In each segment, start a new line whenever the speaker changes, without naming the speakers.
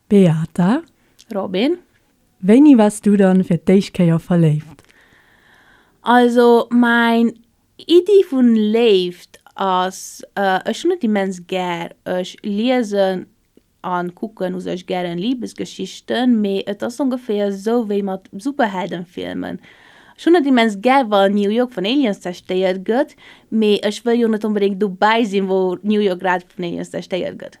Beata. Robin. Wéini wars du dann fir d'éischt Kéier verléift? Also mäin Iddi vun Léift ass, ech hunn et immens gär, ech liesen an kucken u sech gären Liebesgeschichten, mee et ass ongeféier esou wéi mat Superheldenfilmen, ech hunn et immens gär wann New York vun Aliens zerstéiert gëtt, mee ech wëll jo net onbedéngt dobäi sinn wou New York grad vun Aliens zerstéiert gëtt.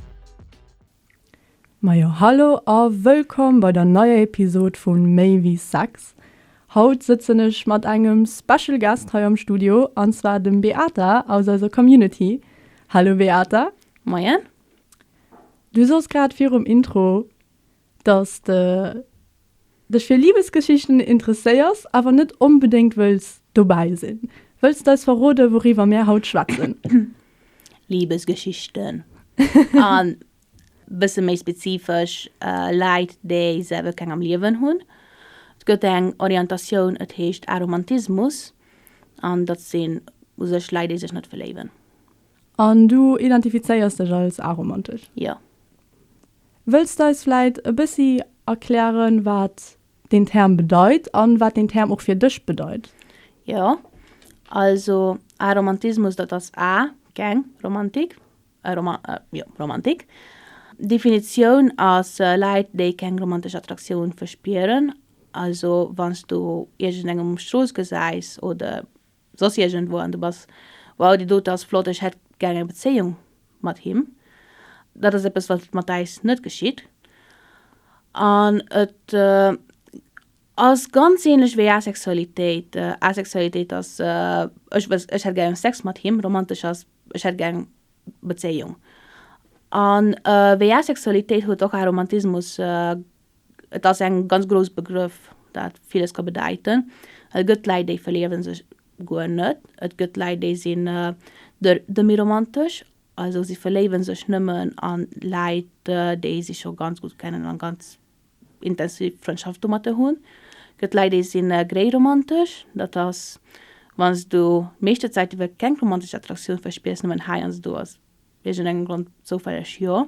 Majo hallo a wëllkomm bei der neier Episod vu Méi wéi Sex. Haut sëtzen ech mat engem Special Guest hei am Studio an zwar dem Beata aus eiser Community. Hallo Beata. Moien. Du soss grad virum Intro. Dass de dech fir Libesgeschichten interesséiers, awer net onbedéngt wëlls dobäi sinn, wëlls d'eis verrode wouriwwer mär haut schwätzen? Libesgeschichten an bësse méi spezifesch Leit déi selwer keng am Liewen hunn. Et gëtt eng Orientatioun, et heescht Aromantismus an dat sinn u sech Leit déi sech net verléiwen. An du identifizéiers dech als aromantesch? Jo. Wëlls de eis vläit e bëssi erklären, wat deen Term bedeit an wat deen Term och fir dech bedeit? Jo, also Aromantismus, dat ass a, keng, Romantik, e, Roma, e, jo, Romantik. D'Definitioun ass, Leit, déi keng romantesch Attraktioun verspieren, also wann s du iergendengem um Strooss gesäis oder soss iergendwou an du bass, wow, dee dote ass flott, ech hätt gär eng Bezéiung mat him. Dat ass eppes, wat mat äis net geschitt. An et ass ganz ähnlech wéi Asexualitéit. Asexualitéit ass, ech wëss, ech hätt gär Sex mat him. Romantesch ass, ech hätt gär eng Bezéiung. A wéi Asexualitéit huet och Aromantismus, Et ass en ganz grouss Begrëff, dat villes ka bedäiten. Et gëtt Läit, déi verliewe sech guer net. Et gëtt Läit, déi sinn demiromantesch, also si verléiwe sech nëmmen a Läit, déi si scho ganz gutt kennen a ganz intensiv Frëndschaft domatter hunn. Et gëtt Läit, déi sinn gréiromantesch, dat ass, wann s du d'meeschte Zäit iwwer keng romantesch Attraktioun verspiers, nëmmen hei an s do. Iergendengem Grond zoufälleg jo.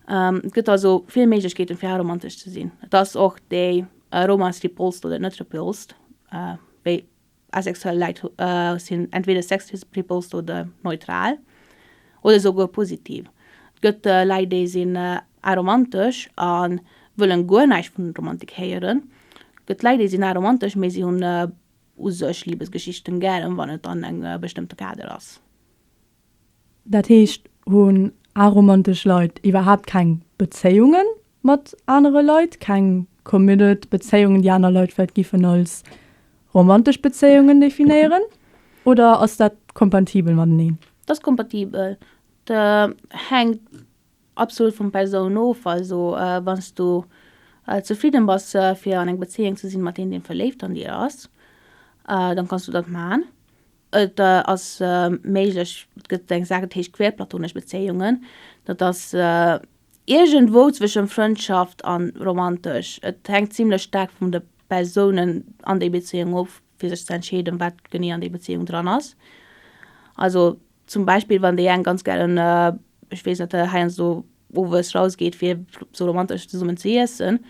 Et gëtt also vill Méiglechkeeten, fir aromantesch ze sinn. Et ass och déi Aromas, déi polst oder net repulst, wéi asexuell Leit sinn entweder sexrepulst oder neutral oder souguer positiv. Et gëtt Leit, déi sinn aromantesch a wëllen guer näischt vun Romantik héieren. Et gëtt Leit, déi sinn aromantesch, mee si hunn u sech Libesgeschichten gären, wann et an engem bestëmmte Kader ass. Dat heescht, hunn aromantesch Leit iwwerhaapt keng Bezéiunge mat anere Leit, keng committed Bezéiungen, déi aner Leit vläicht giffen als romantesch Bezéiungen definéieren? Oder ass dat kompatibel mateneen? Dat ass kompatibel. Dat hänkt absolut vun Persoun of. Also wann s du zefridden bass fir an eng Bezéiung ze sinn mat deem deen verléift an dir ass, dann kanns du dat man. Et ass méiglech, et gëtt eng Saach, dat heescht queerplatonesch Bezéiungen. Dat ass iergendwou zwësche Frëndschaft a romantesch. Et hänkt zimlech staark vun de Persounen an déi Bezéiung of, fir sech ze entscheeden, wat genee an déi Bezéiung dran ass. Also zum Beispill, wann déi eng ganz gären, ech weess net, heiansdo owes rausgeet, fir esou romantesch zesummen ze iessen,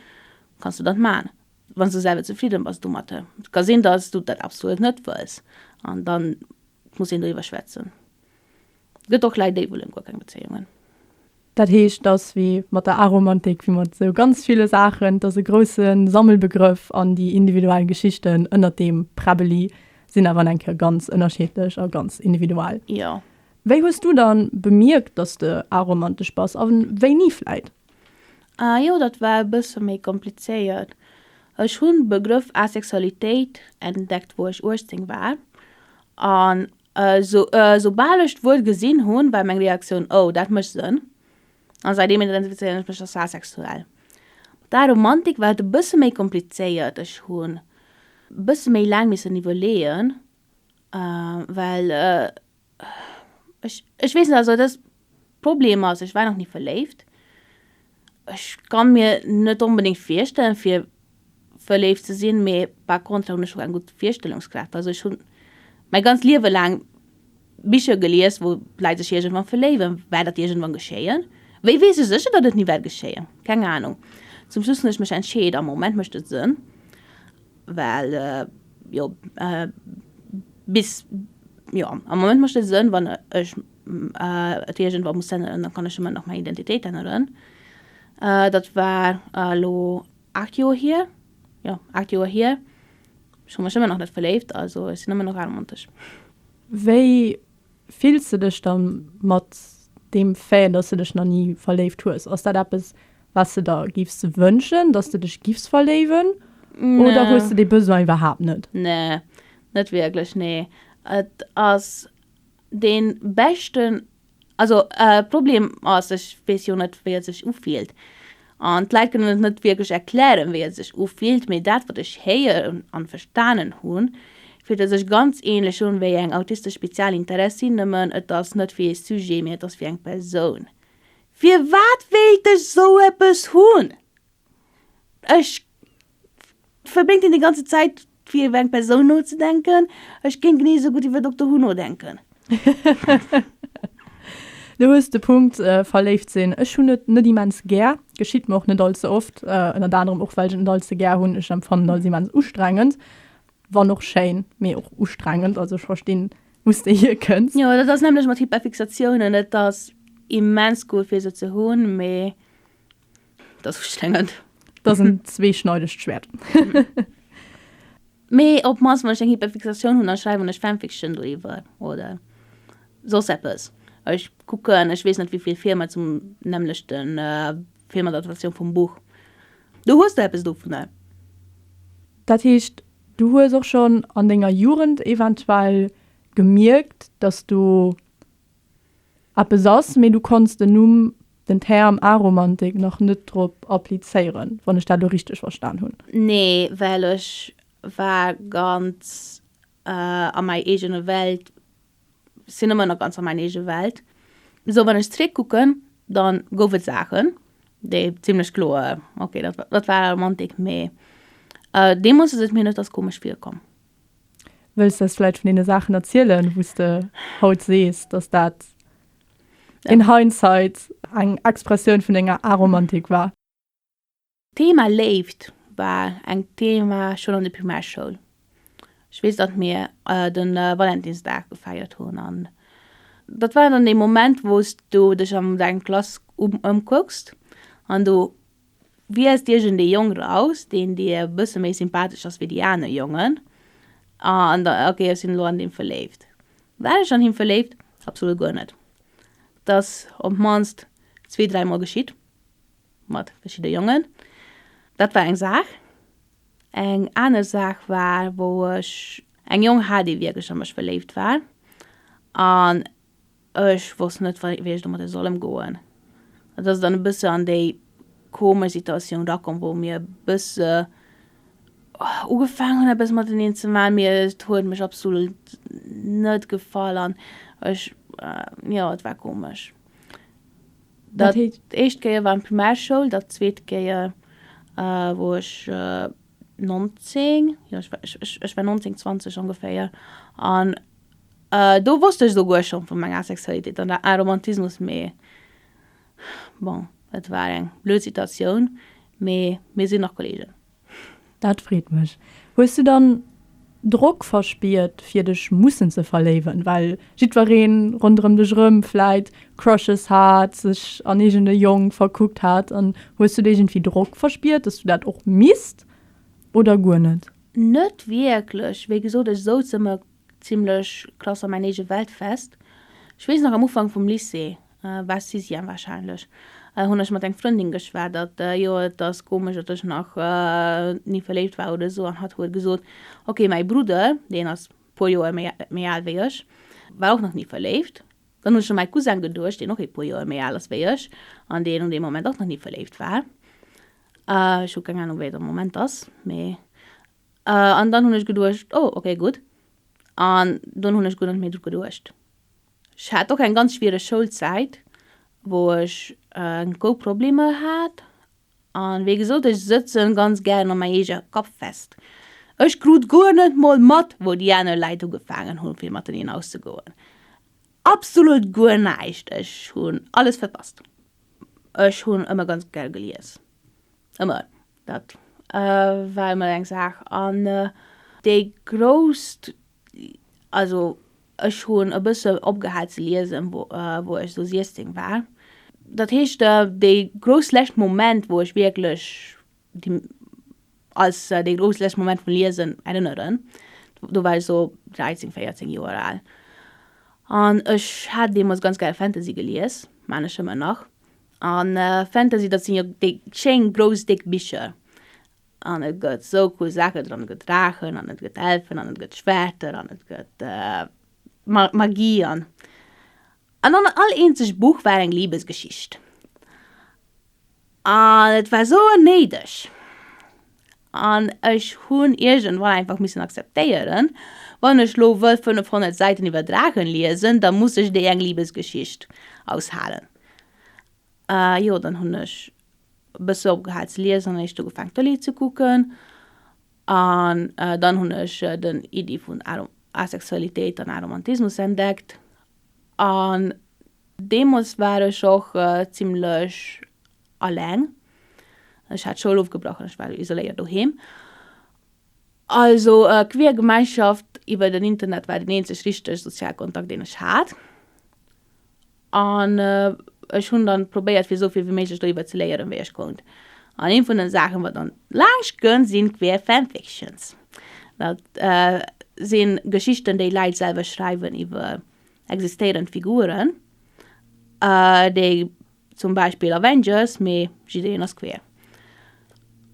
kanns du dat man. Wann s du selwer zefridden bass domatter, et ka sinn dass du dat absolut net wëlls, an dann muss een doriwwer schwätzen. Et gëtt och Leit déi wëllen guer keng Bezéiungen. Dat heescht, et ass wéi mat der Aromantik, wéi mat sou ganz ville Saachen, et ass e grousse Sammelbegrëff, an déi individuell Geschichten ënnert deem Präbbeli sinn awer an eng Kéier ganz ënnerscheedlech a ganz individuell. Jo. Wéi hues du dann bemierkt dass de aromantesch bass, a wéini vläit? Ah jo, dat war e bësse méi komplizéiert. Ech hunn de Begrëff Asexualitéit entdeckt, wou ech 18 war. An esoubal ech d'Wuert gesinn hunn, war meng Reaktioun, Oh, dat mécht Sënn. An säitdeem identifizéieren ech mech als asexuell. Mat der Romantik war et e bësse méi komplizéiert. Ech hunn e bësse méi laang missen iwwerleeën, well Ech, ech weess net, also dës Problem ass, ech war nach ni verléift. Ech kann mir net onbedéngt virstellen fir verléift ze sinn, mee par contre hunn ech och eng gutt Virstellungskraaft. Also ech hunn mäi ganzt Liewe laang Bicher gelies, wou d'Leit sech iergendwann verléiwen. Wäert dat iergendwann geschéien? Wéi weess ech sécher, datt et ni wäert geschéien? Keng Anung. Zum Schluss hunn ech mech entscheet, am Moment mécht et Sënn. Well, jo, bis, jo, am Moment mécht et Sënn, wann ech et iergendwa muss änneren, da kann ech ëmmer nach meng Identitéit änneren. Dat war elo aacht Joer hier, jo, aacht Joer hier. Ech hu mech ëmmer nach net verléift, also ech sinn ëmmer nach aarmontesch. Wéi Fills de dech da mat deem Fait, dass de dech nach ni verléift hues, ass dat eppes, wat de der giffs wënschen, dass de dech giffs verléiwen, oder hues de dee Besoin iwwerhaapt net? Nee, net wierklech, nee. Et ass dee beschten, also Problem ass, ech weess jo net, wéi et sech ufillt. An d'Leit kënnen et net wierklech erklären, wéi et sech ufillt, mee dat, wat ech héieren an verstanen hunn, fillt et sech ganz ähnlech un wéi eng autistesch Spezialinteressin, nëmmen et ass net wéi ee Sujet, mee et ass wéi eng Persoun. Firwat wéilt ech sou eppes hunn? Ech. verbréngt een déi ganze Zäit fir iwwer eng Persoun nozedenken. Ech kéint genee esou gutt iwwer Doctor Who nodenken. Du hues de Punkt, verléift sinn. Ech hunn et net immens gär, geschitt mer och net all ze oft, ënnert anerem och well ech et net all ze gär hunn. Ech empfannen et als immens ustrengend, wann och schéin, mee och ustrengend. Also ech verstinn wous de hier kënns. Jo, dat ass nämlech mat Hyperfixatiounen, et ass immens cool fir se ze hunn, mee. Dat wusst ech net. Dat ass en zweeschneidegt Schwäert. Mee op d'mannst, wann ech eng Hyperfixatioun hunn, da schreiwen ech Fanfiction doriwwer oder soss eppes. Ech kucken, ech weess net wéi vill Filmer zum nämmlechte Filmadaptatioun vum Buch. Du hues do eppes dovunner? Dat heescht, du hues och schonn an denger Jugend eventuell gemierkt, datt du eppes ass, mee du konns den Numm, den Term Aromantik nach net drop applizéieren, wann ech dat elo richteg verstan hunn. Nee, well ech war ganz a mäi eegene Welt, sinn ëmmer nach ganz a mäin eege Welt. Sou wann ech zréckkucken, da gouf et Saachen, déi zimlech kloer, okay, dat war Aromantik, mee deemools ass et mir net als komesch virkomm. Wëlls de eis vläicht vun deene Saachen erzielen, wou s de haut sees, datt dat in hindsight eng Expressioun vun denger Aromantik war? D'Thema Léift war eng Thema schonn an der Primärschoul. Ech weess, datt mir de Valentinsdag gefeiert hunn an dat war dann dee Moment, wou s du dech an deng Klass ëmkucks an du Wiesst iergendee Jong raus, deen dir e bësse méi sympathesch ass wéi déi aner Jongen, an da, okay, ech sinn elo an dee verléift. War ech an him verléift? Absolut guer net. Et ass op d'mannst zwee, dräi Mol geschitt, mat verschidde Jongen. Dat war eng Saach. Eng aner Saach war, wou ech eng Jong hat, déi wierklech a mech verléift war. An Ech wosst net, wéi ech domadder soll ëmgoen. Et ass dann e bësse an déi komesch Situatioun rakomm, wou mir e bësse ugefaangen hunn, eppes mateneen ze maachen, mee et huet mech absolut net gefall an ech, jo, et war komesch. Dat éischt Kéier war an d'Primärschoul, dat zweet Kéier, wou ech 19, jo, ech war 19, 20 ongeféier, an Do wosst ech souguer schonn vu menger Sexualitéit an der Aromantismus, mee bon, et war eng blöd Situatioun, mee mir sinn nach Kolleegen. Dat freet mech. Hues du dann Drock verspiert fir dech mussen ze verléiwen, well jiddwereen ronderëm dech erëm vläit Crushes hat, sech an iergend e Jong verkuckt hat an hues du do iergendwéi Drock verspiert, dass du dat och misst oder guer net? Net wierklech. Wéi gesot, ech souz ëmmer zimmlech klass a mäin eege Welt fest. Ech weess nach, am Ufank vum Lycée, war Sixième warscheinlech, hunn ech mat eng Frëndin geschwat, datt, jo et ass komesch, datt ech nach ni verléift war oder esou, an hatt huet gesot, ok, mäi Brudder, deen ass puer Joer méi al wéi ech, war och nach ni verléift. Dann hunn ech u mäi Cousin geduecht, deen och ee puer Joer méi al ass wéi ech, an deen un deem Moment och nach ni verléift war. Uh, ech hu keng Ahnung, wéi et am Moment ass, mee. Uh, an dann hunn ech geduecht, oh, okay, gutt. An dunn hunn ech guer net méi dru geduecht. Ech hat och eng ganz schwiereg Schoulzäit, wou ech uh, eng gou Problemer hat. An wéi gesot, ech sëtzen ganz gären an mäi eeger Kapp fest. Ech krut guer net mol mat, wou déi aner Leit ugefaangen hunn, fir mateneen auszegoen. Absolut guer näischt! Ech hunn alles verpasst. Ech hunn ëmmer ganz gär gelies, ëmmer, dat war ëmmer eng Saach. An déi grousst, also ech hunn e bësse opgehal ze liesen, wou ech esou 16 war. Dat heescht, déi grouss lescht Moment, wou ech wierklech Déi als dee gruselegste Moment vum Liesen erinnereren. Do war ech esou 13, 14 Joer al. An ech hat deemools ganz gäre Fantasy gelies, maan ech ëmmer nach. An Fantasy, dat sinn jo déi schéin grouss déck Bicher. An et gëtt esou cool Saachen dran, et gëtt Draachen an et gëtt Elfen an et gëtt Schwerter an et gëtt Magie an. An an all eenzegt Buch war eng Liebesgeschicht. An et war souer néideg. An ech hunn iergendwann einfach missen akzeptéieren, wann ech lo wëll 500 Säiten iwwer Drachen liesen, da muss ech déi eng Libesgeschicht aushalen. Jo, dann hunn ech e bësse opgehal ze liesen an eréischt ugefaangen d'Tëlee ze kucken. An dann hunn ech den Iddi vun Asexualitéit an Aromantismus entdeckt. An. Deemools war ech och zimmlech alleng. Ech hat d'Schoul ofgebrach an ech war isoléiert doheem. Also e queer Gemeinschaft iwwer den Internet war den eenzeg richteg sozial Kontakt deen ech hat. An ech hunn dann probéiert fir esou vill wéi méiglech doriwwer ze léieren wéi ech konnt. An een vun den Saachen wat dann laanscht kënnt sinn queer Fanfictions. Dat sinn Geschichten déi Leit selwer schreiwen iwwer Existéieren Figuren, déi zum Beispill Avengers, mee jiddereen ass queer.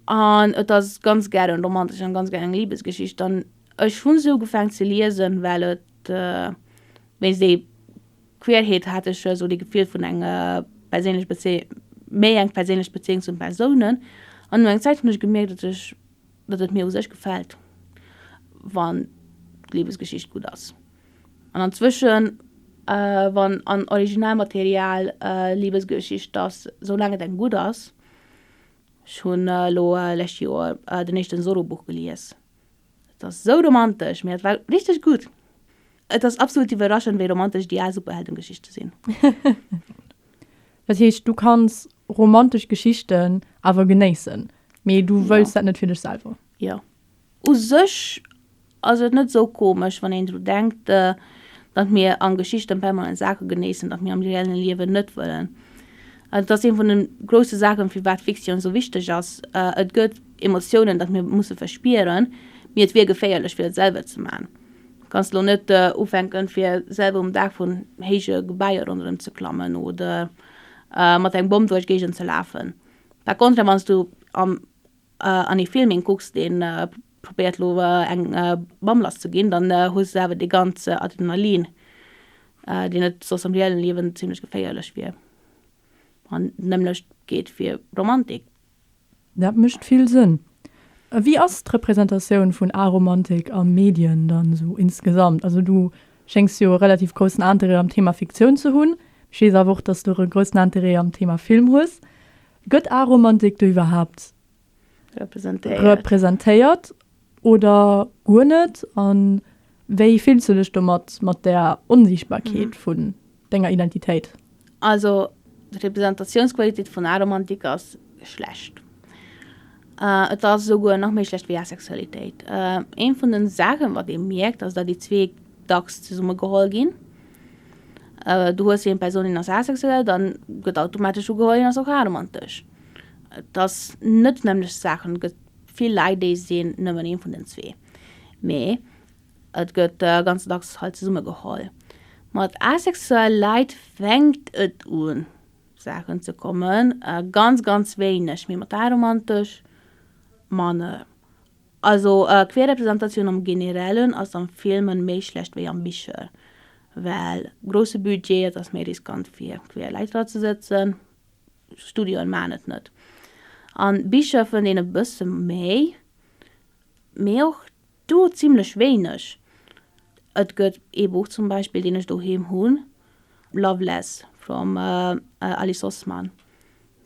An et ass ganz gären eng romantesch an ganz gären eng Libesgeschicht. An ech hunn se ugefaang ze liesen, well et wéinst déi Queerheet hat ech esou dee Gefill vun eng perséinlech Bezéi-, méi eng perséinlech Bezéiung zu den Persounen. An no enger Zäit hunn ech gemierkt, datt ech, datt et mir u sech gefält, wann d'Libesgeschicht gutt ass. An anzwëschen, wann an Originalmaterial Liebesgeschicht, dass sou laang et engem gutt ass, ech hunn elo lescht Joer den éischten Solo-Buch gelies, et ass sou romantesch, mee et war richteg gutt, et ass absolut iwwerraschend wéi romantesch déi al Superheldengeschichte sinn. Dat heescht du kanns romantesch Geschichten awer genéissen, mee du wëlls dat net fir dech selwer? Jo. U sech ass et net sou komesch, wann een dru denkt, datt mir an Geschichten permanent Saache genéissen, datt mir am reellen Liewen net wëllen. Dat ass een vun den groussen Saachen, firwat Fiktioun esou wichteg ass. Et gëtt Emotiounen, datt mir musse verspieren, mee et wier geféierlech fir et selwer ze man. Kanns elo net ufänken fir selwer um Daach vun héije Gebaier ronderëm ze klammen oder mat engem Bomm duerch Géigend ze lafen. Par contre wanns du am. an ee Filming kucks deen probéiert lo eng Mamm lass ze ginn, dann hues de awer dee ganze Adrenalin deen et soss am reellen Liewen zimlech geféierlech wier. An d'nämmlecht geet fir Romantik. Dat mécht vill Sënn. A wéi ass d'Representatioun vun Aromantik a Medien dann esou insgesamt? Also du schéngs jo e relativ groussen Interêt am Thema Fiktioun ze hunn. Ech weess awer och, dass du e groussen Interêt am Thema Film hues. Gëtt Aromantik do iwwerhaapt representéiert oder guer net? A wéi fills du dech domat, mat där Onsiichtbarkeet vun denger Identitéit? Also, d'Representatiounqualitéit vun Aromantik ass schlecht. Et ass esouguer nach méi schlecht wéi Asexualitéit. Ee vun de Saachen, wat ee mierkt, ass, datt déi zwee dacks zesummegeholl ginn. Du hues eng Persoun, deen ass asexuell, dann gëtt automatesch ugeholl, hien ass och aromantesch. Et ass net d'nämmlecht Saach an et gëtt vill Leit, déi sinn nëmmen ee vun den zwee. Mee et gëtt ganz dacks halt zesummegeholl. Mat asexuelle Leit fänkt et un. Saachen ze kommen, ganz ganz wéineg méi mat aromantesch Manner. Also queer Representatioun am Generellen ass am Filmen méi schlecht wéi am Bicher, well grousse Budget, et ass méi riskant fir queer Leit dra ze sëtzen, Studioen maachen et net. An Bicher fënnt een e bësse méi, mee och Do zimlech wéineg. Et gëtt ee Buch zum Beispill, deen ech doheem hunn, Loveless from Alice Oseman.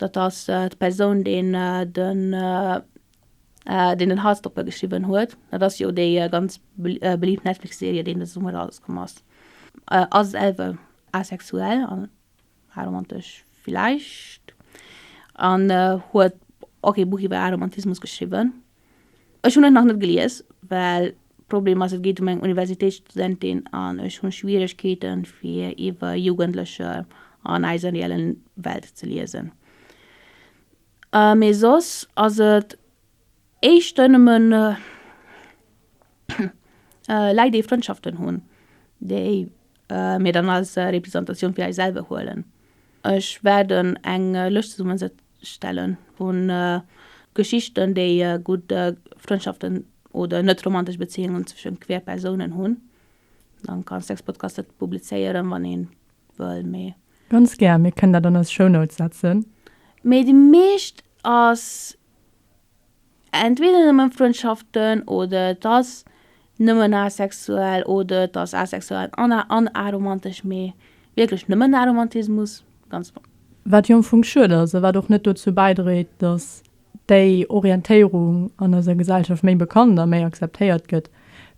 Dat ass d'Persoun, deen den, deen den Heartstopper geschriwwen huet. Dat ass jo déi ganz beliift Netflix-Serie, déi de Summer erauskomm ass. Ass selwer asexuell an Aromantesch villäicht. An huet och ee Buch iwwer Aromantismus geschriwwen. Ech hunn et nach net gelies, well d'Problem ass, et geet ëm eng Universitéitsstudentin an ech hu Schwieregkeete fir iwwer Jugendlecher an eiser reellen Welt ze liesen. Mee soss ass et éischter nëmmen Leit, déi Frëndschaften hunn, déi Mir dann als Representatioun fir eis selwer huelen. Ech waarden eng Lëscht zesummen stellen vu Geschichten déi gutt Frëndschaften oder net romantesch Beziéungen zwëschen queer Persounen hunn. Dann kann Sexpodcast et publizéieren wann een wëll mee. Ganz gär, mir kënnen dat an eis Shownotes setzen. Mee déi meescht ass Entweder nëmmen Frëndschaften oder et ass nëmmen asexuell oder et ass asexuell an an aromantesch, mee wierklech nëmmen Aromantismus, ganz flott. Wat jo am Fong schued ass a wat och net dozou bäidréit, datt déi Orientéierung an eiser Gesellschaft méi bekannt a méi akzeptéiert gëtt.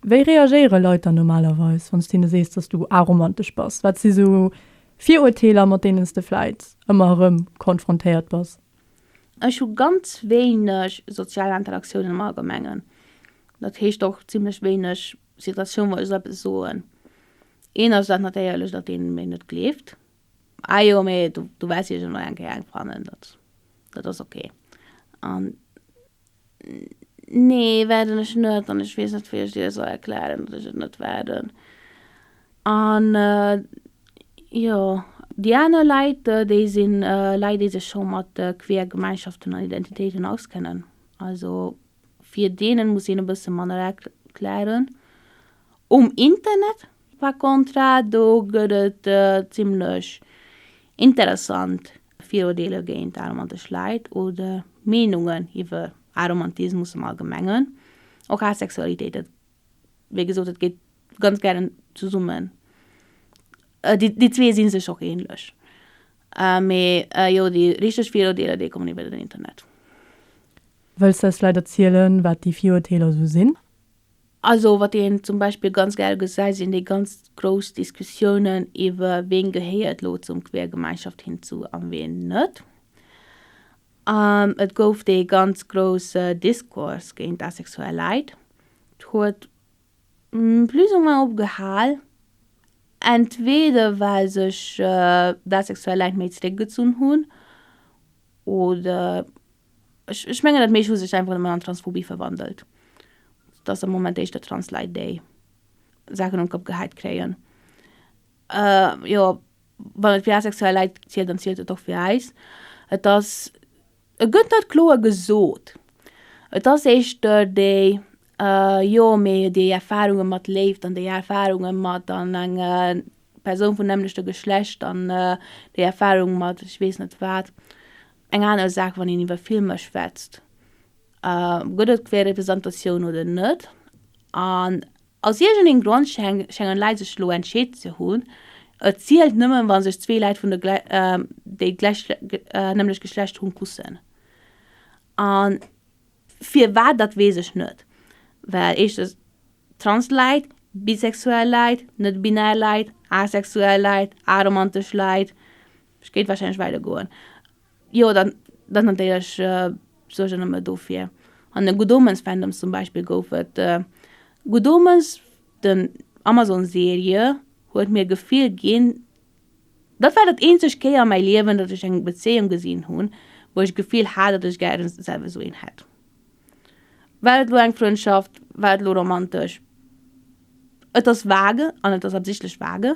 Wéi reagéiere Leit dann normalerweis, wann s de hinne sees, datt s du aromantesch bass? Wat si sou Virurteeler, mat deenen s de vläit ëmmer erëm konfrontéiert bass? Ech hu ganz wéineg sozial Interaktioun am Allgemengen. Dat heescht och zimmlech wéineg Situatioun, wou ech soll eppes soen. Een ass dat natéierlech, datt een mir net gleeft, Ah jo, mee du, du wells jo elo eng Kéier eng fannen, dat, dat ass ok. An Nee, waarden ech net. An ech weess net, wéi ech dir soll erklären, datt ech et net waarden. An jo, déi aner Leit, déi si Leit, déi sech scho mat queer Gemeinschaften an Identitéiten auskennen. Also fir deene muss een e bësse manner erklären. Um Internet par contra, do gëtt et zimlech interessant Viruerdeeler géint aromantesch Leit oder Meenungen iwwer Aromantismus am Allgemengen, och Asexualitéit, dat, wéi gesot, dat geet ganz gären zesummen. Déi, déi zwee si sech och ähnlech. Mee jo, déi richteg Viruerdeeler, déi kommen iwwer den Internet. Wëlls de eis vläit erzielen, wat déi Viruerdeeler esou sinn? Also wat een zum Beispill ganz gär gesäit, sinn déi ganz grouss Diskussiounen iwwer ween gehéiert elo zum Quergemeinschaft hinzu a ween net. Et gouf dee ganz grousse Discours géint asexuell Leit. Et huet plus ou moins opgehal, entweder well sech d'asexuell Leit méi zeréckgezunn hunn oder. Ech mengen dat meescht hu sech einfach nëmmen an Transphobie verwandelt, dass am Moment éischter trans Leit déi Saachen um Kapp geheit kréien. Jo wann et fir asexuell Leit zielt, dann zielt et och fir äis. Et ass, et gëtt net kloer gesot, et ass éischter déi jo mee déi Erfarunge mat Léift an déi Erfarunge mat an eng Persoun vun nämmlechte Geschlecht an déi Erfarung mat ech weess net wat. Eng aner Saach, wann een iwwer Filmer schwätzt, gëtt et Representatioun oder net? An aus iergendengem Grond schéngen Leit sech elo entscheet ze hunn, et zielt nëmmen, wa sech zwee Leit vun déi gläichnämlecht Geschlecht hunn, kussen. An firwat, dat weess ech net. Well éischtens trans Leit, bisexuell Leit, net-binär Leit, asexuell Leit, aromantesch Leit, Ech géif wahrscheinlech wäile goen. Jo, dann dann natierlech Suergen ëm e dofir. An de Good Omens Fandoms zum Beispill gouf et Good Omens, den Amazon Serie huet mir Gefill ginn, dat war dat eenzegt Kéier a mäi Liewen, datt ech eng Bezéiung gesinn hunn, wou ech Gefill hat, datt ech gären selwer esou een hätt. War et elo eng Frëndschaft, war et elo romantesch? Et ass vage an et ass absichtlech vage.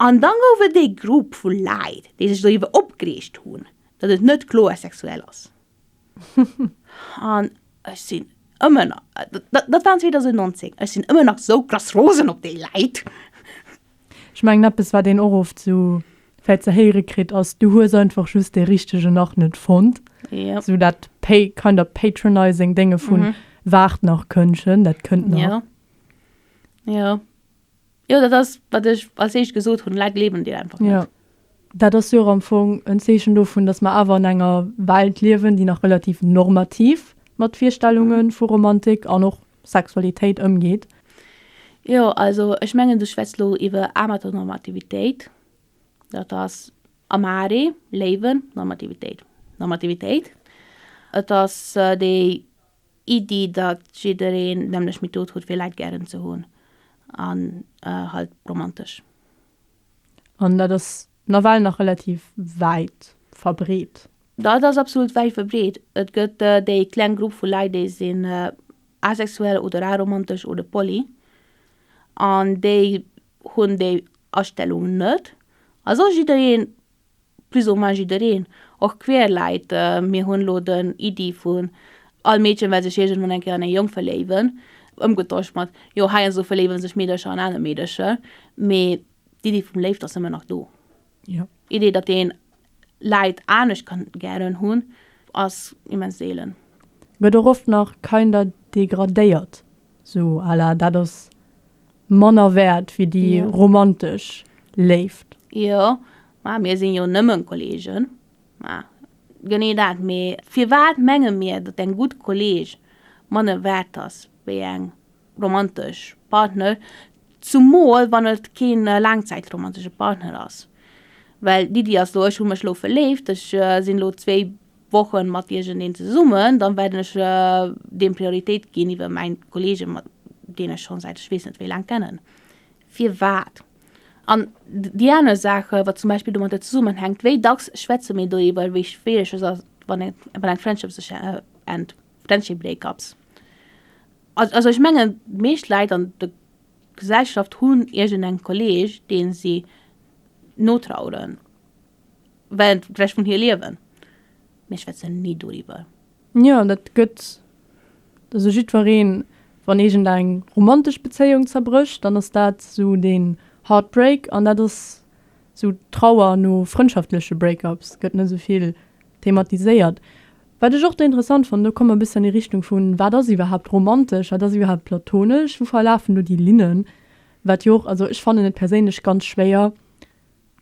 An dann gouf et ee Grupp vu Leit, déi sech doriwwer opgereegt hunn, datt et net kloer sexuell ass. An ech sinn ëmmer nach, dat war 2019, ech sinn ëmmer nach esou krass rosen op déi Leit. Ech mengen, eppes, wat een och oft esou vläicht ze héiere kritt, ass, Du hues einfach just dee Richtegen nach net fonnt. Esou dat kind of patronizing Dénge vu, Waart nach, Kënnchen, dat kënnt nach. Jo. Jo, dat ass, wat ech als éischt gesot hunn, Leit gleewen dir einfach net. Dat ass jo och am Fong en Zeechen dovun, datt mer awer an enger Welt liewen, déi nach relativ normativ mat Virstellunge vu Romantik an och Sexualitéit ëmgeet. Jo, also ech mengen, du schwätz lo iwwer Amateur-Normativitéit. Dat ass amare, léiwen, Normativitéit, Normativitéit. Et ass déi Iddi, datt jiddereen d'nämlech Method huet fir Läit gären ze hunn an halt romantesch. An dat ass nawell nach relativ wäit verbreet. Dat ass absolut wäit verbreet. Et gëtt déi kleng Grupp vu Läit déi sinn asexuell oder aromantesch oder poly an déi hunn déi Astellung net. Also jiddereen plus ou moins jiddereen, och queer Leit, mir hunn elo den Iddi vun all Meedchen well sech iergendwann eng Kéier an ee Jong verléiwen ëmgetosch mat jo heiansdo verléiwe sech Meedercher an aner Meedercher, mee d'Iddi vum Léift ass ëmmer nach do. D'Iddi, datt een Leit anescht kann gären hunn, ass immens seelen. Gëtt och oft nach kinder degradéiert, sou à la dat ass manner wäert wéi déi romantesch Léift. Jo, ma mir sinn jo nëmmen Kollegen. Ma genee dat. Mee firwat menge mir, datt eng gutt Kolleg manner wäert ass wéi eng romantesch Partner, zumol wann et kee laangzäitromantesche Partner ass? Well d'Iddi ass lo, ech hu mech lo verléift, ech sinn lo zwee Wochen mat iergendeen zesummen, dann wäerten ech deem Prioritéit ginn iwwer mäin Kollege mat deen ech schonn säit ech weess net wéi laang kennen. Firwat? An déi aner Saache wat zum Beispill domatter zesummenhänkt, wéi dacks schwätze mir doriwwer wéi schwiereg et ass wann eng Friendship sech ennt, Friendship breakups. Also ech mengen d'meescht Leit an der Gesellschaft hunn iergendeng Kolleg deen si notraueren. well vläicht vun hir liewen, mee ech schwätze ni doriwwer. Jo, dat gëtt esou jiddwereen. Wann iergend eng romantesch Bezéiung zerbrécht, dann ass dat esou den Heartbreak an dat ass esou d'Trauer no frëndschaftleche Break-ups, gëtt net esou vill thematiséiert. Wat ech och do interessant fannen, do komme mer e bëssi an déi Richtung vu wat ass iwwerhaapt romantesch, wat ass iwwerhaapt platonesch, wou verlafen do déi Linnen, wat jo och, also ech fannen et perséinlech ganz schwéier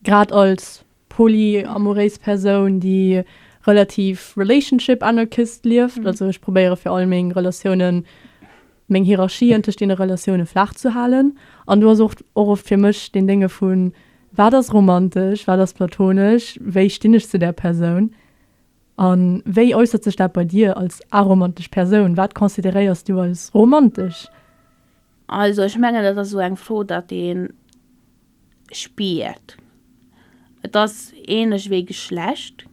Grad als polyamouréis Persoun, déi relativ relationship anarchist lieft, also ech probéiere fir all meng Relatiounen, meng Hierarchien tëscht deene Relatioune flaach ze halen. An do ass och och oft fir mech deen Dénge vun, Wat ass romantesch? Wat ass platonesch? Wéi stinn ech zu där Persoun? A wéi äussert sech dat bei dir als aromantesch Persoun? Wat consideréiers du als romantesch? Also ech mengen, dat ass esou eng Fro, datt een. spiert, et ass ähnlech wéi Geschlecht,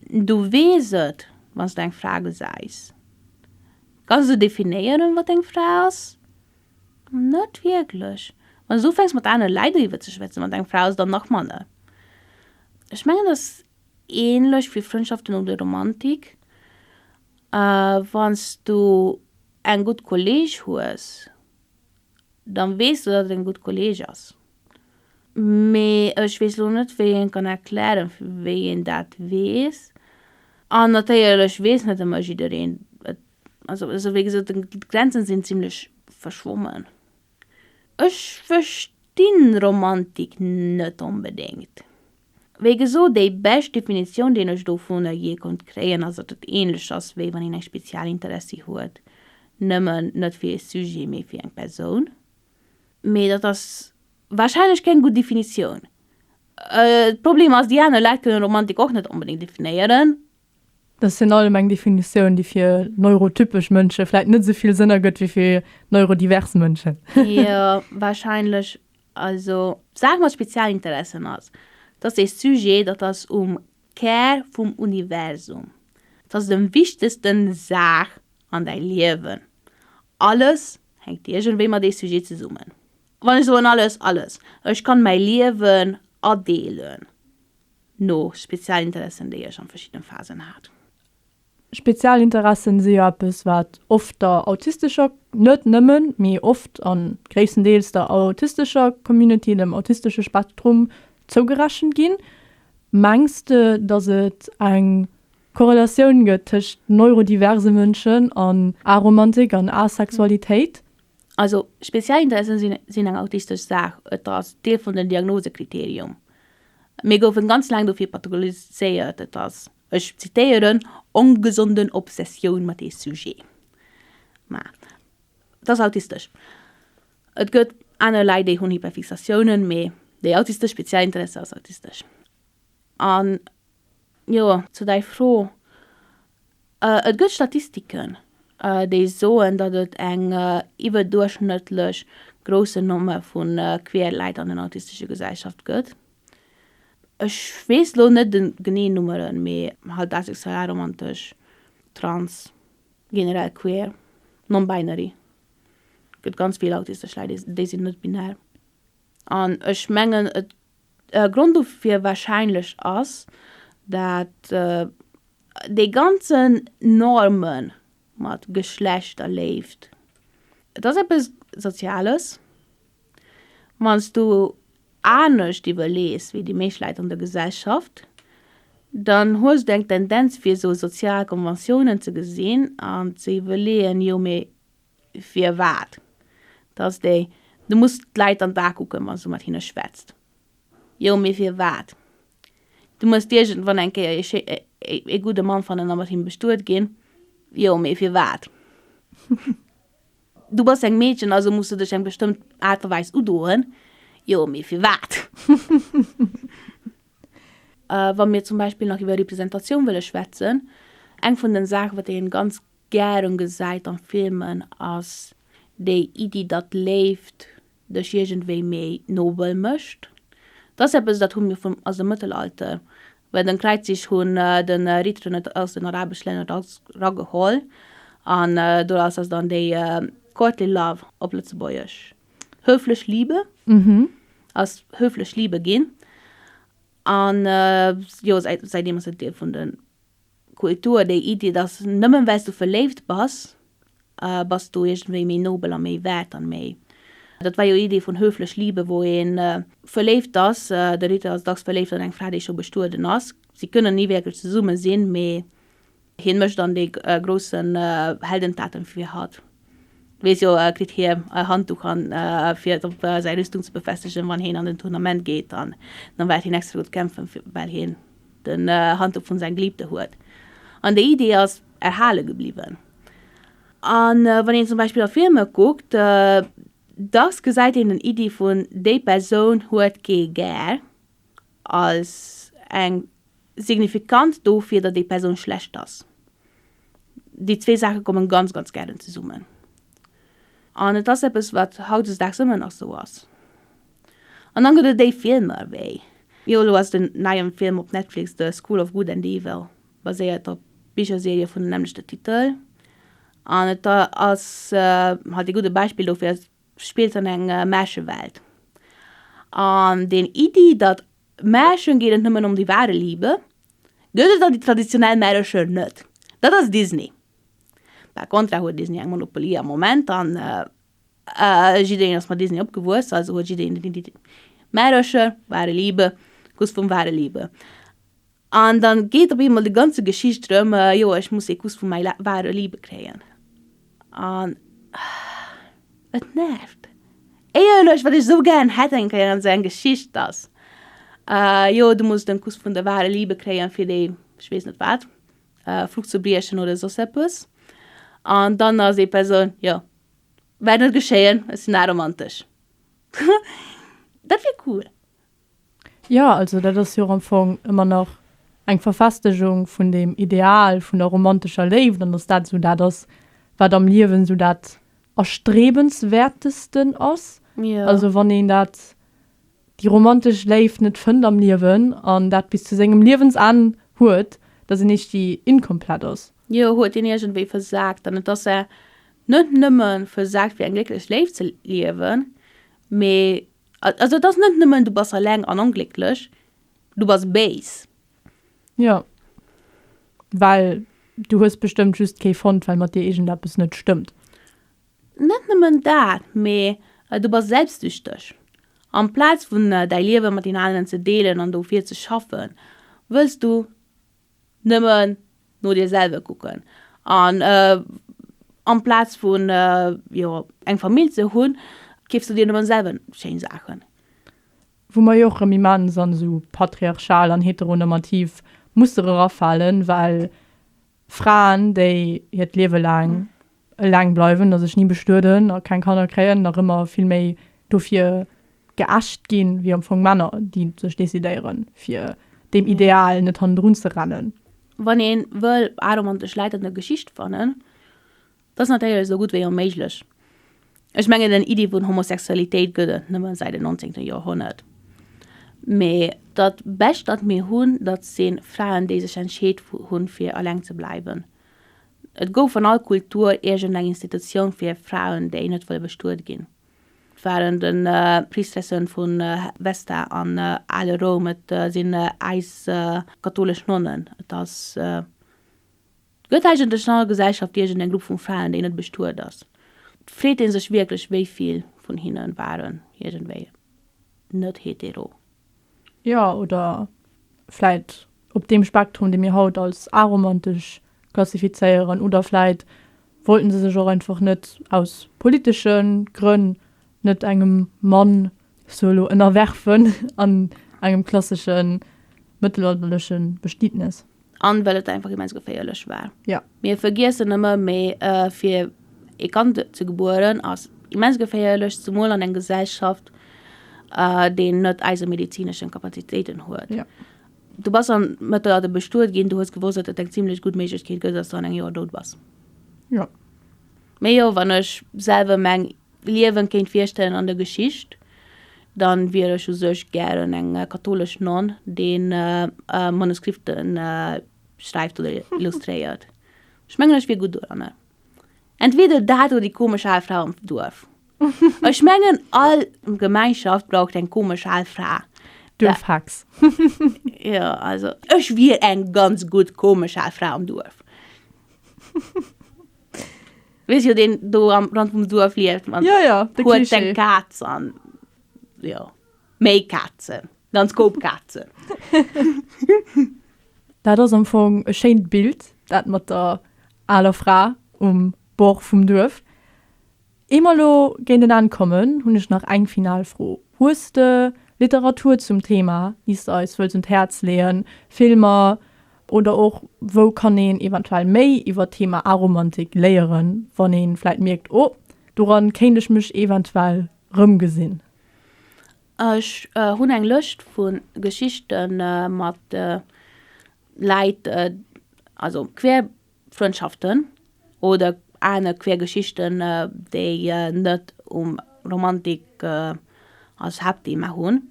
du weess et wann s de eng Fra gesäis. Kanns de definéieren wat eng Fra ass? Net wierklech. Wann s de ufänks mat anere Läit eriwwer ze schwätzen wat eng Fra ass dann nach manner. Ech mengen et ass ähnlech wéi Frëndschaften oder Romantik, wann s du eng gutt Kolleeg hues. dann wees du dat et en gudd Kolleg ass. Mee ech wees lo net wéi een kann erklären wéi een dat wees. An natéierlech wees net emmer jiddereen et. Also esou wéi gesoot, d'Grenzen sin zimlech verschwommen. Ech verstin Romantik net onbedingt. Wéi gesot, déi bescht Definitioun, déi ech dovunner jee konnt kréien, ass, datt et ähnlech ass, wéi wann een eng Spezialinteressie huet, nëmmen net fir ee Sujet, mee fir eng Persoun. Mee dat ass warscheinlech keng gutt Definitioun. De Problem ass, déi aner Leit kënnen Romantik och net onbedéngt definéieren, Dat ass virun allem eng Definitioun, déi fir neurotypesch Mënsche vläit net esou vill Sënn ergëtt wéi fir neurodivers Mënschen. Jo, warscheinlech. Also, d'Saach mat Spezialinteressen ass, dass dee Sujet, dat ass um Kär vum Universum, dat ass dem wichtegste Saach an däi Liewen. Alles hänkt iergendwéi mat ee Sujet zesummen. Wann ech soen alles, alles, ech kann mäi Liewen adeelen, No Spezialinteressen, déi Iech an verschiddenen Phasen hat. Spezialinteressen si jo eppes wat oft der autistescher, net nëmmen, mee oft an gréisstendeels der autistescher Community, dem autistesche Spektrum zougerechent ginn. Mengs de dass et eng Korrelatioun gëtt tëscht neurodiverse Mënschen an Aromantik an Asexualitéit? Also speziell Interessen sinn eng autistesch Saach, et ass Deel vun den Diagnosekriterium. Mir goufen ganz laang dofir pathologiséiert, et ass, ech zitéieren, ongesonden Obsessioun mat ee Sujet. Mä et ass autistesch. Et gëtt aner Leit déi hunn Hyperfixatiounen, mä déi autistesch speziell Interesse ass autistesch. An jo, zu däi Fro. Et gëtt Statistiken, déi soen, datt et eng iwwerduerchschnëttlech grousse Nommer vu queer Leit an den autistesche Gesellschaft gëtt. Ech weess elo net de geneen Nummeren, mee halt asexuell, aromantesch, trans, generell queer, non-binary, gëtt ganz vill autistesch Leit, déi sinn net binär. An ech mengen, e Grond dofir wahrscheinlech ass, datt déi ganzen Norme mat Geschlechterléift, et ass eppes Soziales. Wann s du anescht iwwerlees wéi déi meescht Leit an der Gesellschaft, dann hues du eng Tendenz fir esou sozial Konventiounen ze gesinn an ze iwwerleeën, jo mee Firwat? Dass déi, du muss d'Leit an d'A kucken, wann s du mat hinne schwätzt. Jo, mee firwat? Du muss iergendwann eng Kéier ee schéi, ee gudde Mann fannen a mat him bestuet ginn. Jo, mee firwat? Du bass eng Meedchen, also muss du dech eng bestëmmt Aart a Weis udoen. Jo, mee firwat? Wa mir zum Beispill nach iwwer Representatioun wëlle schwätzen, eng vun den Saachen, wat een ganz, gären gesäit an Filmen ass déi Iddi datt Léift dech iergendwéi méi nobel mécht. Dat ass eppes dat hu mir vum aus dem Mëttelalter well den Kräizzich hunn de Ritteren et aus den arabesch Länner erageholl an doraus ass dann déi Courtly Love, op Lëtzebuergesch Höflich Liebe, ass Höflich Liebe ginn an jo säitdeem ass et Deel vun den Kultur, déi Iddi, dass nëmmen well s du verléift bass, bass du iergendwéi méi nobel a méi wäert an méi, dat war jo Iddi vun höflech Liebe, wou ee verléift ass. De Ritter ass dacks verléift an eng Fra, déi scho bestueden ass. Si kënnen ni wierklech zesumme sinn, mee hien mécht dann déi groussen Heldentaten fir hatt. Wees jo kritt hie e Handduch an fir et op säi Rüstung ze befestegen wann hien an den Tournament geet an dann waert hien extra do kämpfen well hien den Handduch vun säin Geliebte huet an déi Idee ass erhale gebliwwen. An wann een zum Beispill a Filme kuckt dass gesäit een den Idee vun déi Persoun huet kee gär als eng Signifikanz dofir, datt déi Persoun schlecht ass. Déi zwee Saache kommen ganz, ganz gären zesummen. An et ass eppes, wat hautdesdaags ëmmer nach esou ass. An dann gëtt et déi Filmer wéi, jo elo ass den neien Film op Netflix, The School of Good and Evil, baséiert op Bicherserie vun dem nämmlechte Titel. An et ass halt ee gudde Beispill dofir. spillt an enger Märchewelt. An den Iddi, datt Märchen geet et nëmmen ëm die wahre Liebe, gëtt et an die traditionell Märchen net. Dat ass Disney. Par contra huet Disney eng Monopolie am Moment an jiddereen ass mat Disney opgewuess, also huet jiddereen den Iddi Märchen, wahre Liebe, Kuss vum wahre Liebe. An da geet op eemol déi ganze Geschicht drëm, jo, ech muss ee Kuss vu mäi wahre Liebe kréien. An et nervt. Éierlech, wat ech sou gären hätt eng Kéier an esou eng Geschicht, dass, jo, du muss den Kuss vun der wahre Liebe kréien, fir déi, ech weess net wat, Fluch ze briechen oder soss eppes. An dann ass ee Persoun, jo, wäert net geschéien, ech sinn aromantesch. Dat wier cool. Jo, also dat ass jo och am Fong ëmmer nach eng Verfestegung vun deem Ideal vun der romantescher Léift an datt dat esou dat ass, wat am Liewen esou dat Erstrebenswäertesten ass. Also wann een dat, déi romantesch Léift net fënnt am Liewen an dat bis zu sengem Liewensenn huet, datt een éischtgi inkomplett ass. Jo, huet een iergendwéi versaakt. An et ass net nëmme versaakt fir eng glécklech Léift ze liewen, mee Also et ass net nëmmen du bass alleng an onglécklech, du bass béis. Jo, well du hues bestëmmt just kee fonnt, well mat dir iergendeppes net stëmmt. Net nëmmen dat, mee du bass selbstsüchteg. Amplaz vun däi Liewe mat den aneren ze deelen an dofir ze schaffen, wëlls du Nëmmen no dir selwer kucken an amplaz vun jo eng Famill ze hunn, keefs du dir nëmmen selwer schéin Saachen. Wou mer jo och rëm immens an esou patriarchal an heteronormativ Muster erafalen, well Fraen, déi hiert Liewe laang Eleng bleiwen, dass ech ni bestueden a keng Kanner kréien, nach ëmmer vill méi dofir geächt ginn, wéi am Fong Männer, déi sech decidéieren, fir deem Ideal net hannendrun ze rennen. Wann ee wëll aromantesch Läit an der Geschicht fannen, da ass natierlech esou gutt wéi onméiglech. Ech mengen, den Iddi vun Homosexualitéit gëtt et nëmme säit den 19. Joerhonnert. Mee dat Bescht, dat mir hunn, dat si Fraen, déi sech entscheet hunn, fir eleng ze bleiwen. Et gouf an all Kultur iergend eng Institutioun fir Fraen, déi net wëlle bestuet ginn. Et waren de Priestressen vu Vesta an ale Roum, et sinn äis kathoulesch Nonnen, et ass, et gëtt eigentlech an all Gesellschaft iergend eng Grupp vu Fraen, déi net bestuet ass. Freet ee sech wierklech, wéi vill vun hinne waren iergendwéi net hetero? Jo, oder vläit op deem Spektrum, dee mir haut als aromantesch klassifizéieren. Oder vläit wollte se sech och einfach net aus politesche Grënn net engem Mann sou elo ënnerwerfen an engem klassesche mëttelalterleche Bestietnes. An well et einfach immens geféierlech war. Ja. Mir vergiessen ëmmer méi äh, fir e Kand ze gebueren ass immens geféierlech, zumol an eng Gesellschaft, äh, deen net eise medizineschen Kapazitéiten huet. Ja. Du bass an Mëttelalter bestuet ginn, du hues gewosst, datt et eng zimlech gutt Méiglechkeet gëtt, datt du an engem Joer dout bass. Ja. Mee jo, wann ech selwer meng Liewen kéint virstellen an der Geschicht, dann wier ech u sech gären eng kathoulesch Nonn, déi Manuskripten schreift oder illustréiert. Ech mengen ech wier gutt doranner. Entweder dat oder déi komesch al Fra am Duerf. Ech mengen all Gemeinschaft braucht eng komesch al Fra. Duerfhex. Jo, also ech wier eng ganz gutt komesch al Fra am Duerf. Wees jo den do am Land vum Duerf lieft man ja, ja, de huet seg Katz an ja méi Katzen ganz Koop Katzen. Dat ass am Fong e schéint Bild, dat mat der aler Fra um Bord vum Duerf. Ier mer elo géint en Enn kommen, hunn ech nach eng final Fro, Hues de Literatur zum Thema, déi s de eis wëlls un d'Häerz leeën, Filmer oder och wou kann een eventuell méi iwwer d'Thema Aromantik léieren, wann ee vläit mierkt, oh doran kéint ech mech eventuell rëmgesinn? Ech hunn eng Lëscht vu Geschichte mat Läit, also quer Frëndschaften oder aner queer Geschichten, déi net um Romantik als Haaptthema hunn.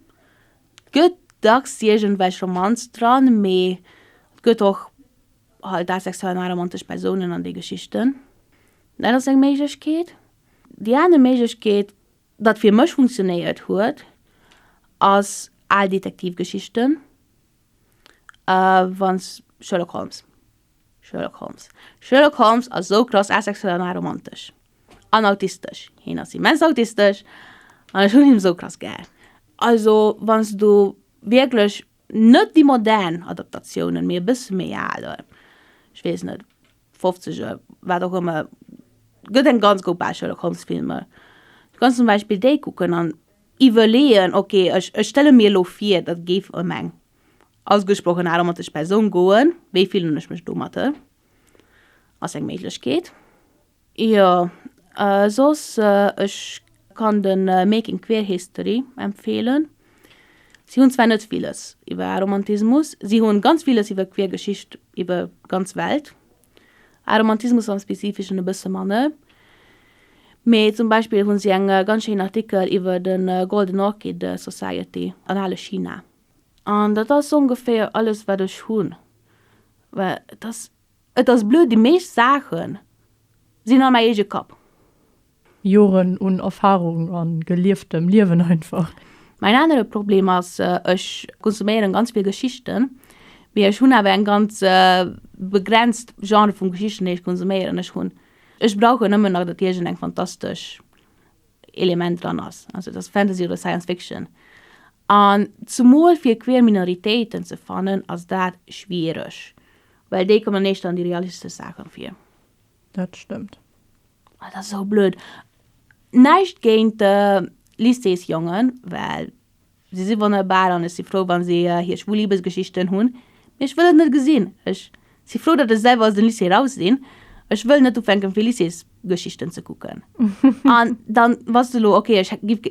Et gëtt dacks iergendwelch Romanz dran, mee et gëtt och halt asexuell an aromantesch Persounen an de Geschichten. Dat ass eng Méiglechkeet. Déi aner Méiglechkeet, wat fir mech funktionéiert huet, ass al Detektivgeschichten. Ahh wann s Sherlock Holmes Sherlock Holmes Sherlock Holmes ass esou krass asexuell an aromantesch. An autistesch. Hien ass immens autistesch an ech hunn hien esou krass gär. Also wann s du wierklech net déi modern Adaptatiounen, mee e bësse méi al, ech weess net, 50 oder wat och ëmmer, gëtt eng ganz group Auswiel u Konschtfilmer. Du kanns zum Beispill déi kucken an iwwerleeën, ok, ech ech stelle mir elo vir, dat géif ëm eng ausgesprochen aromatesch Persoun goen, wéi fillen ech mech domatte? Ass eng Méiglechkeet. Jo, soss, ech kann de Making Queer History empfeelen. Si hunn zwar net villes iwwer Aromantismus, si hunn ganz villes iwwer queer Geschicht iwwer ganz Welt, Aromantismus am Spezifischen e bësse manne, mee zum Beispill hunn si eng ganz schéin Artikel iwwer de Golden Orchid Society an ale China. An dat ass ongeféier alles wat ech hunn, well et ass Et ass blöd, déi meescht Saache sinn a mäi eege Kapp. Joren un Erfarung a gelieftem Liewen einfach. Mäin anere Problem ass, ech konsuméieren ganz vill Geschichten, mee ech hunn awer eng ganz begrenzt Genre vun Geschichten, déi ech konsuméieren. Ech hunn, ech brauchen nëmmen nach, datt iergend eng fantastesch Element dran ass, also datt Fantasy oder Science Fiction. An zemol fir queer Minoritéiten ze fannen, ass dat schwiereg. Well déi kommen dann éischter an déi realistesch Saachen vir. Dat stëmmt. Ah, dat ass esou blöd. Näischt géint de Lycéesjongen, well si si wonnerbar an ech si frou, wa si hir schwul Libesgeschichten hunn. Mee ech wëll et net gesinn. Ech si frou, datt ech selwer aus dem Lycée raus sinn. Ech wëll net ufänken, fir Lycéesgeschichten ze kucken. An dann, wa se elo, okay, ech giff.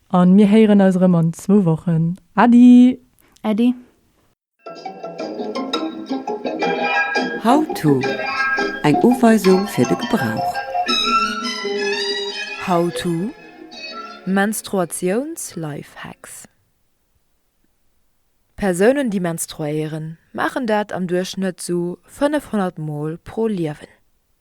A mir héieren eis erëm an zwou Wochen. Äddi! Äddi! How-to, Eng Uweisung fir de Gebrauch. How-to, Menstruatiouns-Lifehacks Persounen déi menstruéieren maachen dat am Duerchschnëtt sou 500 mol pro Liewen.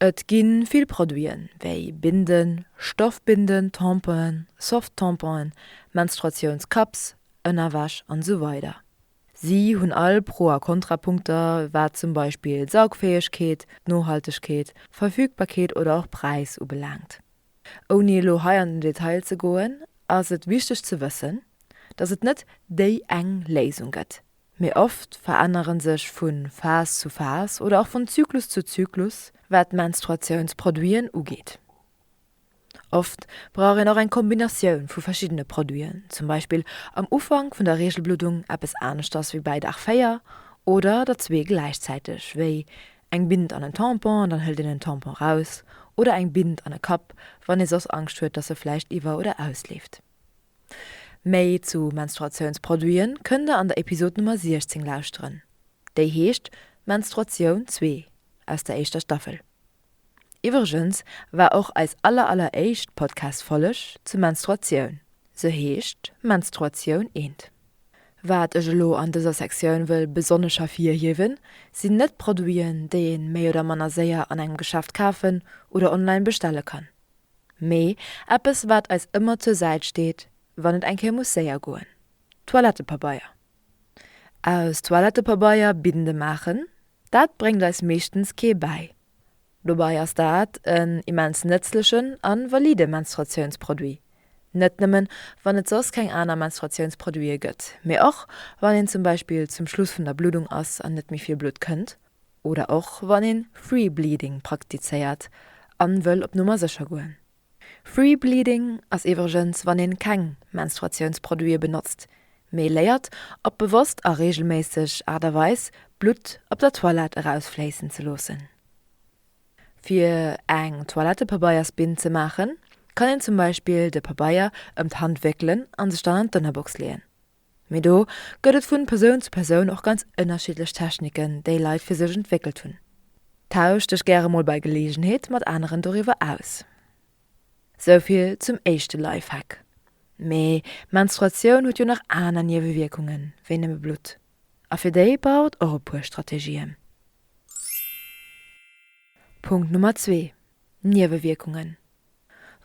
Et gi vill Produiten, wéi Binden, Stoffbinden, Tamponen, Soft-Tamponen, Menstruatiounscups, Ënnerwäsch an esou weider. Si hunn all Pro a Kontrapunkter, wat zum Beispill d'Saugfäegkeet, d'Nohaltegkeet, d'Verfügbarkeet oder och Präis ubelaangt. Ouni elo hei an den Detail ze goen, ass et wichteg ze wëssen, dass et net déi eng Léisung gëtt. Mee oft verännere sech vu Phas zu Phas oder och vun Zyklus zu Zyklus, wat d'Menstruatiounsproduiten ugeet. Oft brauch een och eng Kombinatioun vu verschiddene Produiten, zum Beispill am Ufank vun der Reegelbluddung eppes aneschters wéi bäi Dag 4 oder der zwee gläichzäiteg, wéi eng Bint an en Tampon an dann hëlt een en Tampon raus oder eng Bint an e Kapp, wann ee soss Angscht huet, dass e vläicht iwwer oder ausleeft. Méi zu Menstruatiounsproduiten kënnt der an der Episod Nummer 16 lauschteren, déi heescht Menstruatioun zwee aus der éischter Staffel. Iwwregens war och eis aller aller éischt Podcast Folleg zu Menstruatioun, se heescht Menstruatioun eent. Wat ech elo an dëser Sektioun wëll besonnesch hervirhiewen, sinn net Produiten déi een méi oder manner séier an engem Geschäft kafen oder online bestelle kann. Mee eppes, wat eis ëmmer zur Säit steet, wann et eng Kéier muss séier goen, Toilettepabeier. Aus Toilettepabeier Binde maachen, dat bréngt eis meeschtens kee bäi. Dobei ass dat en immens nëtzlechen a valide Menstruatiounsproduit, net nëmmen, wann et soss keng aner Menstruatiounsproduite gëtt, mee och, wann een zum Beispill zum Schluss vun der Bluddung ass an net méi vill Blutt kënnt. oder och wann een Free Bleeding praktizéiert an wëll op Nummer sécher goen. Free Bleeding ass iwwregens wann een keng Menstruatiounsproduiten benotzt, mee léiert op bewosst a reegelméisseg Aart a Weis Blutt op der Toilette erausfléissen ze loossen. Fir eng Toilettepabeiers-Binn ze maachen, kann een zum Beispill de Pabeier ëm d'Hand wéckelen an sech dann an d'Ënnerbox leeën. Mee do gëtt et vun Persoun zu Persoun och ganz ënnerschiddlech Techniken, déi Leit fir sech entwéckelt hunn. Tausch dech gäre mol bei Geleegenheet mat aneren doriwwer aus. Souvill zum éischte Lifehack. Mee Menstruatioun huet jo nach aner Niewewierkungen wéi nëmme Blutt. A fir déi brauch et och e puer Strategien. Punkt Nummer zwee, Niewewierkungen.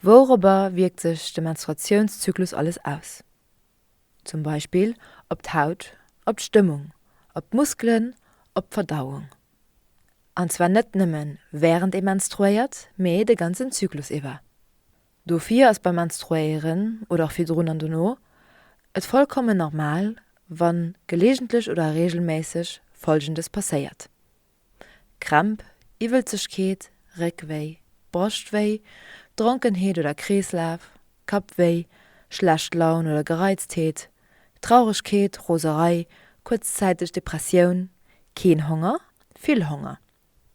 Wourobber wierkt sech de Menstruatiounszyklus alles aus? zum Beispill op d'Haut, op d'Stëmmung, op d'Muskelen, op d'Verdauung. An zwar net nëmme wärend ee menstruéiert, mee de ganzen Zyklus iwwer. Dofir ass beim Menstruéieren, oder och virdrun an dono, et vollkommen normal, wann gelegentlech oder reegelméisseg Folgendes passéiert. Krämp, Iwwelzegkeet, Réckwéi, Broschtwéi, Dronkenheet oder Kreeslaf, Kappwéi, schlecht Laun oder Gereiztheet, Trauregkeet, Roserei, kuerzzäiteg Depressioun, keen Honger, vill Honger,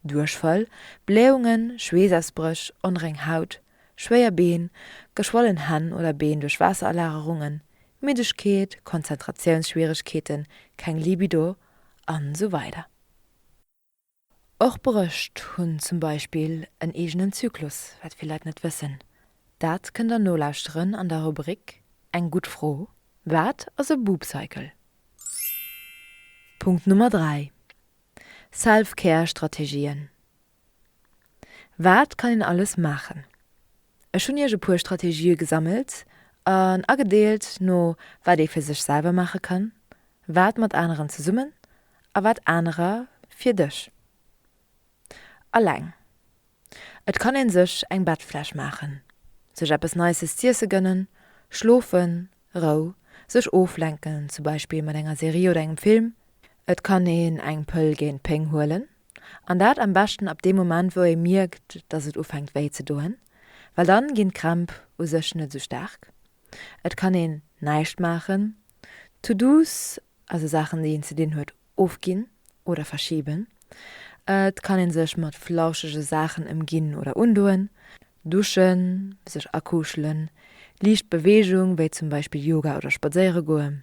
Duerchfall, Blähungen, Schweessausbréch, onreng Haut, schwéier Been, geschwollen Hänn oder Been duerch Waasserallagerungen, Middegkeet, Konzentratiounsschwieregkeeten, keng Libido an esou weider. Och Brëscht hunn zum Beispill en eegenen Zyklus, wat vill Leit net wëssen. Dat kënnt der nolauschteren an der Rubrik Eng gutt Fro, Wat ass e Boob Cycle? Punkt Nummer 3, Self-Care Strategien Wat kann een alles maachen? Ech hunn Iech e puer Strategië gesammelt an agedeelt no wat ee fir sech selwer maache kann, wat mat aneren zesummen a wat anerer fir dech. Alleng. Et kann ee sech eng Bettfläch maachen, sech eppes Nices z'iesse gënnen, schlofen, Rou, sech oflenken, zum Beispill mat enger Serie oder engem Film. Et kann een eng Pëll géint Péng huelen. An dat am beschten ab deem Moment wou ee mierkt dass et ufänkt wéi ze doen, well dann ginn d'Krämp u sech net esou staark. Et kann een näischt maachen, To-dos, also Saachen déi een ze dinn huet, ofginn oder verschiben. Et kann een sech mat flauschege Saachen ëmginn oder undoen, duschen, sech akuschelen, liicht Beweegung wéi zum Beispill Yoga oder spadséiere goe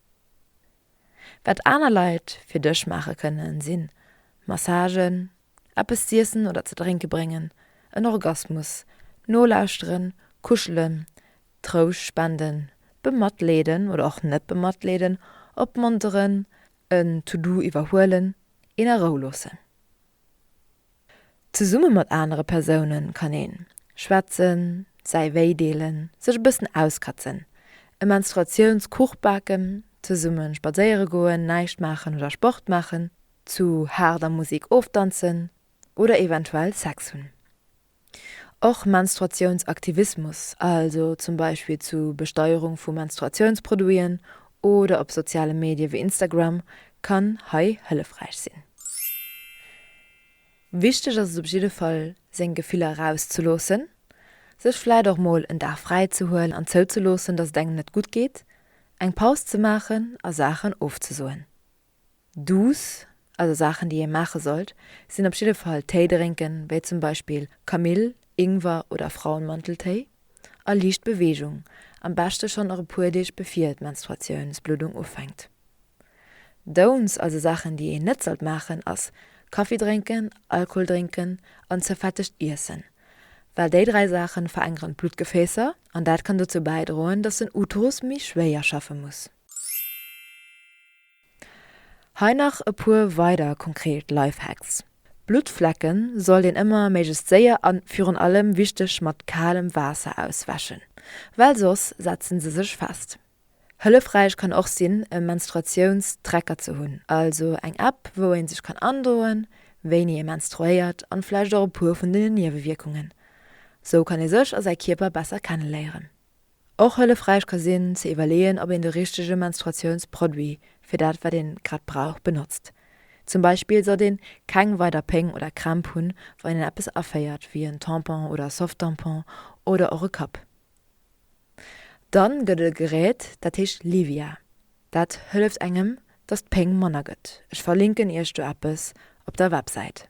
Wat aner Leit fir dech maache kënnen, si Massagen, eppes z'iessen oder ze drénke bréngen, en Orgasmus nolauschteren, kuschelen, Trouscht spenden, bematleeden oder och net bematleeden, opmonteren, en To-Do iwwerhuelen, een a Rou loossen. Zesumme mat anere Persoune kann een schwätzen, säi Wéi deelen, sech e bëssen auskatzen, e Menstruatiounskuch baken, zesumme spadséiere goen, näischt maachen oder Sport maachen, zu haarder Musek ofdanzen oder eventuell Sex hunn. Och Menstruatiounsaktivismus, also zum Beispill zu Besteierung vu Menstruatiounsproduiten oder op soziale Medie wéi Instagram, kann hei hëllefräich sinn. Wichteg ass et op jidde Fall, seng Gefiller erauszeloossen, sech vläit och mol en Dag fräi ze huelen an zouzeloossen, datt et engem net gutt geet, eng Paus ze maachen a Saachen ofzesoen. Douce, also Saachen, déi ee maache sollt, sinn op jidde Fall Téi drénken, wéi zum Beispill Kamill, Ingwer oder Frauenmanteltéi. a liicht Beweegung, am beschte schonn och e puer Deeg bevir d'Menstruatiounsbluddung ufänkt. Don'ts, also Saachen déi een net sollt maachen, ass Kaffi drénken, Alkohol drénken an ze fettegt Iessen, well déi dräi Saachen verengeren d'Bluttgefäässer an dat kann dozou bäidroen, dass den Uterus méi schwéier schaffe muss. Hei nach e puer weider konkret Lifehacks, Bluttflecke sollt een ëmmer méiglechst séier an virun allem wichteg mat kalem Waasser auswäschen, well soss setzen se sech fest. Hëllefräich kann och sinn e Menstruationstracker ze hunn, also eng App wou een sech kann androen wéini ee menstruéiert an vläicht och e puer vun den Niewewierkungen. Sou kann ee sech a säi Kierper besser kenneléieren. och hëllefräich ka sinn ze iwwerleeën, ob een de richtege Menstruatiounsproduit fir dat, wat een grad brauch, benotzt. Zum Beispill sollt een keng weider Péng oder Krämp hunn, wann een eppes aféiert, wéi en Tampon oder Softtampon oder och e Cup. Dann gëtt et e Gerät, dat heescht Livia. Dat hëlleft engem, dass d'Péng manner gëtt. Ech verlinken iech do eppes op der Websäit.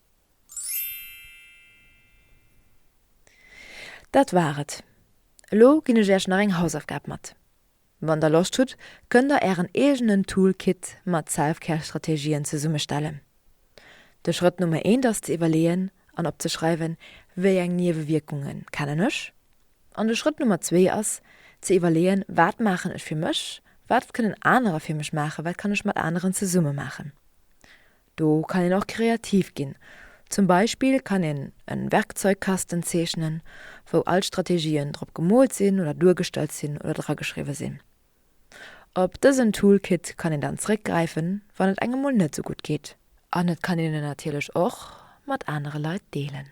Dat war et. Elo ginn ech Äech nach eng Hausaufgab mat. Wann der Loscht hutt, kënnt der Ären eegenen Toolkit mat Selfcare-Strategien zesummestellen. De Schrëtt Nummer eent ass ze iwwerleeën an opzeschreiwen, Wéi eng Niewewierkunge kennen ech? An de Schrëtt Nummer zwee ass ze iwwerleeën, Wat maachen ech fir mech? Wat kënnen anerer fir mech maachen? Wat kann ech mat aneren zesumme maachen? Do kann een och kreativ ginn. Zum Beispill kann een en Werkzeugkasten zeechnen, wou all d'Strategien drop gemoolt sinn oder duergestallt sinn oder drageschriwwe sinn. Op dësen Toolkit kann een dann zréckgräifen, wann et engem mol net sou gutt geet. An et kann een en natierlech och mat anere Leit deelen.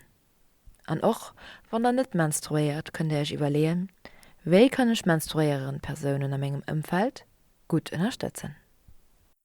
An och wann der net menstruéiert, kënnt der iech iwwerleeën, Wéi kann ech menstruéierend Persounen a mengem Ëmfeld gutt ënnerstëtzen?